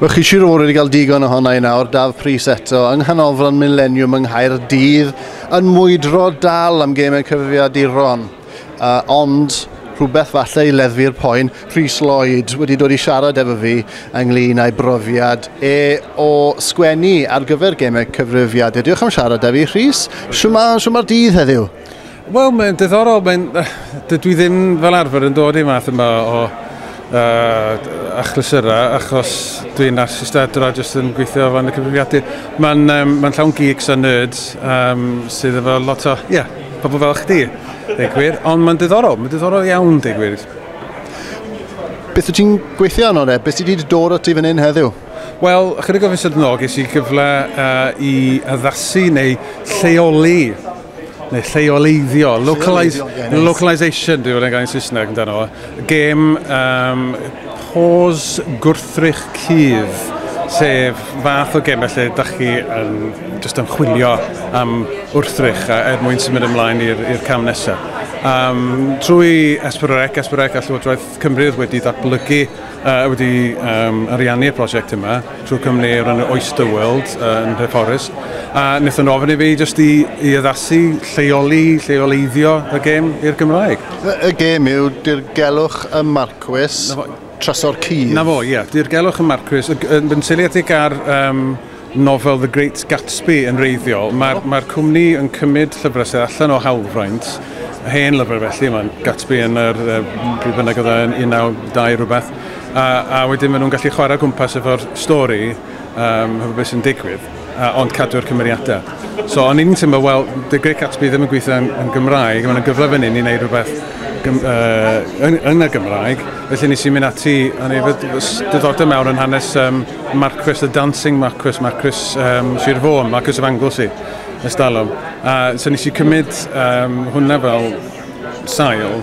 Mae chi siwr o fod wedi cael digon ohona i nawr, Daf Pris eto, yng nghanolfan Millennium yng Nghaerdydd, yn mwydro dal am gemau cyfrifiaduron. Uh, ond rhywbeth falle i leddfu'r poen, Rhys Lloyd wedi dod i siarad efo fi ynglyn â'i brofiad e o sgwennu ar gyfer gemau cyfrifiadur. Diolch am siarad â fi, Rhys. Siwma'r dydd heddiw? Wel, mae'n diddorol. Mae'n... Dydw i ddim fel arfer yn dod i math yma o uh, achlysurau, achos dwi'n artistadwr a jyst yn gweithio fan y cyfrifiadur. Mae'n um, mae llawn geeks a nerds um, sydd efo lot o, ie, yeah, pobl fel chdi, deg gwir. Ond mae'n diddorol, mae'n diddorol iawn, deg gwir. Beth wyt ti'n gweithio arno de? Beth sydd wedi dod o ti fan hyn heddiw? Wel, ychydig o fisoedd yn ôl, ges i gyfle uh, i addasu neu lleoli neu lleoleiddio, localize, localize localization, dwi'n fawr gael Saesneg amdano fo, gêm um, pos gwrthrych cudd, sef fath o gêm felly, da chi yn just yn chwilio am wrthrych er mwyn symud ymlaen i'r cam nesaf. Um, trwy Esperorec, Esperorec a Llywodraeth Cymru wedi ddatblygu, uh, wedi um, ariannu'r prosiect yma, trwy cwmni o'r enw Oyster World uh, yn Nhreforys, a wnaethon nhw ofyn i fi jyst i, i addasu, lleoli, lleoleiddio y gêm i'r Gymraeg. Y, y gêm yw dirgelwch y marcwys trasor cydd. Na fo, ie, yeah, dirgelwch y marcwys, yn seiliedig ar um, nofel The Great Gatsby yn reiddiol. Mae'r oh. mae cwmni yn cymryd llyfrau sydd allan o hawlfraint, hen lyfrau felly, mae Gatsby yn yr, uh, bynnag oedd yn 19 rhywbeth, A, a wedyn maen nhw'n gallu chwarae gwmpas efo'r stori um, hefo beth sy'n digwydd, uh, ond cadw'r cymeriadau. So o'n i'n teimlo, wel, The Great Gatsby ddim yn gweithio yn, yn Gymraeg, mae'n gyfle fan hyn i wneud rhywbeth gym, uh, yn, yn y Gymraeg, felly nes i'n mynd ati, o'n i diddordeb mewn yn hanes um, Marquis, The Dancing Marquis, Marquis um, Sir Fôn, Marquis of Anglesey, ystalwm. A uh, so nes i cymryd um, hwnna fel sail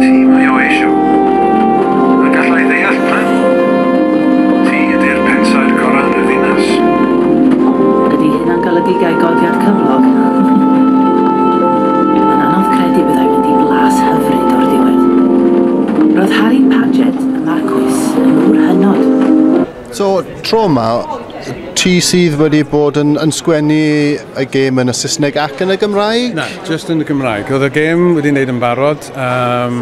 Ti mae o eisiau. A galla i ddeall pam. Ti ydy'r pensaer gorau yn y ddinas. Ydy hynna'n golygu gai godiad cyflog? Mae'n anodd credu byddai mynd i flas hyfryd o'r diwedd. Roedd Harry Paget, y Marcwis, yn ŵr hynod. So, tro yma, ti sydd wedi bod yn, yn sgwennu y gêm yn y Saesneg ac yn y Gymraeg? Na, just yn y Gymraeg. Oedd y gêm wedi wneud yn barod, um,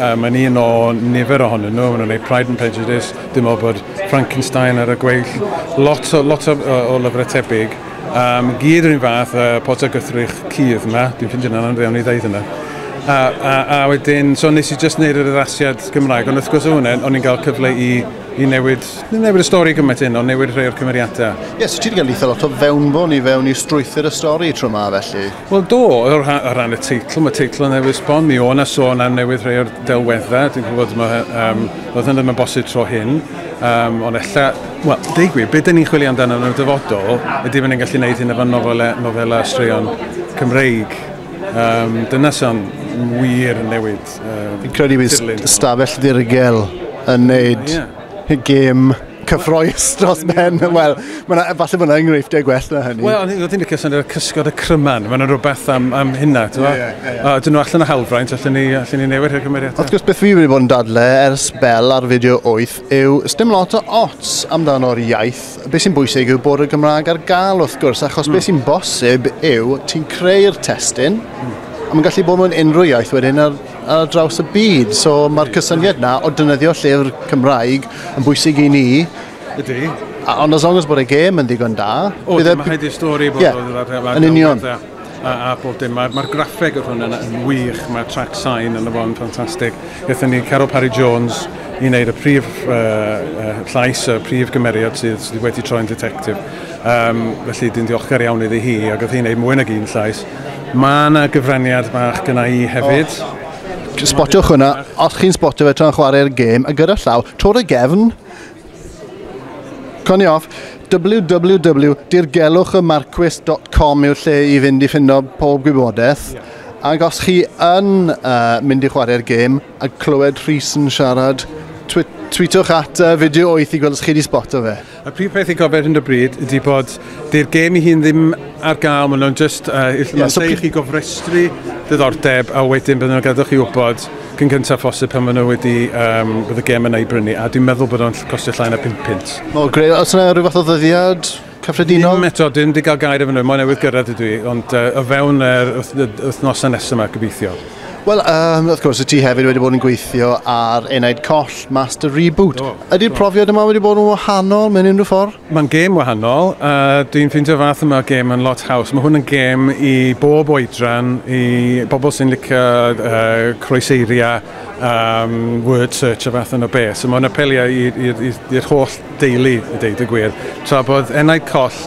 um, yn un o nifer ohonyn nhw, maen nhw'n gwneud Pride and Prejudice, dim o bod Frankenstein ar y gweill, lot o, lot o, o lyfrau tebyg, um, gyd yr un fath, uh, pot o gythrych cudd yma, dwi'n ffindio'n anodd fewn i ddeud yna. A, a, a wedyn, so nes i just wneud yr addasiad Gymraeg, ond wrth gwrs o hwnna, o'n i'n cael cyfle i i newid, nid newid y stori gymaint hyn, ond newid rhai o'r cymeriadau. Ie, yes, so ti wedi cael eitha lot o fewnbwn i fewn i strwythyr y stori tro ma felly? Wel do, o ran y teitl, mae teitl yn newid sbon, mi o'na sôn am newid rhai o'r delweddau, dwi'n gwybod mae, um, oedd hyn ddim yn bosib tro hyn, um, ond ella, wel, dweud gwir, beth dyn ni'n chwilio amdano yn y dyfodol, ydy fy ni'n gallu gwneud hyn efo nofelau, nofelau straeon Cymreig. Um, dyna sy'n wir newid. Fi'n credu bydd stafell ddirgel yn neud y gêm cyffroes dros ben. Wel, falle bod yna enghreifftiau gwell na hynny. Wel, oedd hi'n licio sy'n y cysgod y cryman. Mae'n rhywbeth am, am hynna. Yeah, yeah, yeah. A dyn nhw allan o hawlfraint, allan ni, allan ni newid i'r cymeriad. Wrth gwrs, beth fi wedi bod yn dadle ers bel ar fideo 8 yw, dim lot o ots amdano'r iaith Be sy'n bwysig yw bod y Gymraeg ar gael wrth gwrs, achos mm. be sy'n bosib yw ti'n creu'r testyn, mm. a mae'n gallu bod mewn unrhyw iaith wedyn ar, ar draws y byd. So mae'r cysyniad na o dynyddio llyfr Cymraeg yn bwysig i ni. Ydy. Ond as long as bod y gêm yn ddigon da... O, dyma hyd i stori bod yeah. yn union. a, a bob dim. Mae'r ma graffeg o'r hwn yn, yn wych, mae'r track sign yn y fo'n ffantastig. Ethon ni Carol Parry Jones i wneud y prif uh, uh, llais, y prif gymeriad sydd, sydd wedi troi'n detectif. Um, felly dwi'n diolchgar iawn iddi hi, ac oedd hi'n gwneud mwy nag un llais. Mae yna gyfraniad bach gyna i hefyd. Oh. Spotiwch hwnna, os chi'n spotio fe tra'n chwarae'r gêm, a gyda llaw, tor y gefn, Conioff, www dirgelwch y marcwys dot com yw'r lle i fynd i ffindo pob gwybodaeth. Ie. Ac os chi yn uh, mynd i chwarae'r gêm a clywed Rhys yn siarad, twi tweetwch at uh, fideo 8 i gweld os chi wedi sboto fe. Y prif peth i gofio hyn o bryd ydy bod dy'r gêm i hun ddim ar gael, maen nhw'n just, uh, yeah, so chi gofrestru diddordeb a wedyn byddwn nhw'n gadw chi wybod cyn gyntaf phosib pan maen nhw wedi, um, bydd y gem yna i brynu, a dwi'n meddwl bod o'n costio llai na 5 punt. O, greu, os yna rhyw fath o ddyddiad cyffredinol? Dim eto, dim di gael gair efo nhw, mae'n newydd gyrraedd ydw i, ond uh, o fewn yr wythnosau nesaf yma, gobeithio. Wel, um, wrth gwrs, y ti hefyd wedi bod yn gweithio ar enaid coll Master Reboot. Ydy'r profiad yma wedi bod yn wahanol mewn unrhyw ffordd? Mae'n gêm wahanol a dwi'n ffeindio'r fath yma o gêm yn lot haws. Mae hwn yn gêm i bob oedran, i bobl sy'n licio uh, croeseiriau, um, word search a fath yno beth. So mae'n apelio i'r holl deulu, i deud y gwir. Tra bod enaid coll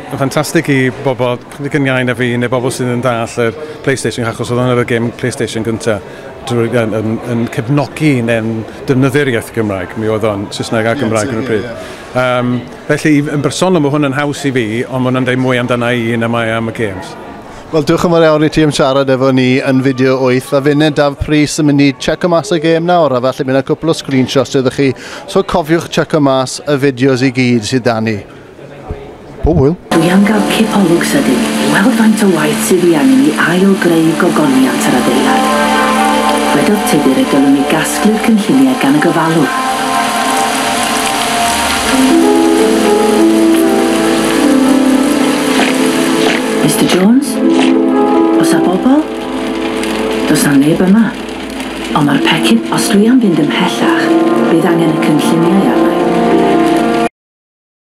yn ffantastig i bobl yn iau na fi neu bobl sydd yn dall yr PlayStation achos oedd hwnna'r gêm PlayStation gyntaf drwy, yn, yn, yn cefnogi neu'n defnyddio'r iaith Gymraeg. Mi oedd o'n Saesneg a Gymraeg yn y pryd. Yym, felly, yn bersonol ma' hwn yn haws i fi, ond ma' hwnna'n deud mwy amdana i na mae am y gêms. Wel, diolch yn fawr iawn i ti am siarad efo ni yn Fideo Wyth. A finne, Daf Prys, yn mynd i tseco mas y gêm nawr, a falle bydd 'na cwpl o screenshots iddo chi, so cofiwch tseco mas y fideos i gyd sydd 'da ni. Pob hwyl! Dwi am gael cipolwg sydyn i weld faint o waith sydd i angen i ail-greu gogoniant yr adeilad. Dwedodd Tudur y dylwn ni gasglu'r cynlluniau gan y gofalwr. Mister Jones? Oes a bobl? Does na neb yma. Ond mae'r pecyn, os dwi am fynd ymhellach, bydd angen y cynlluniau arna i.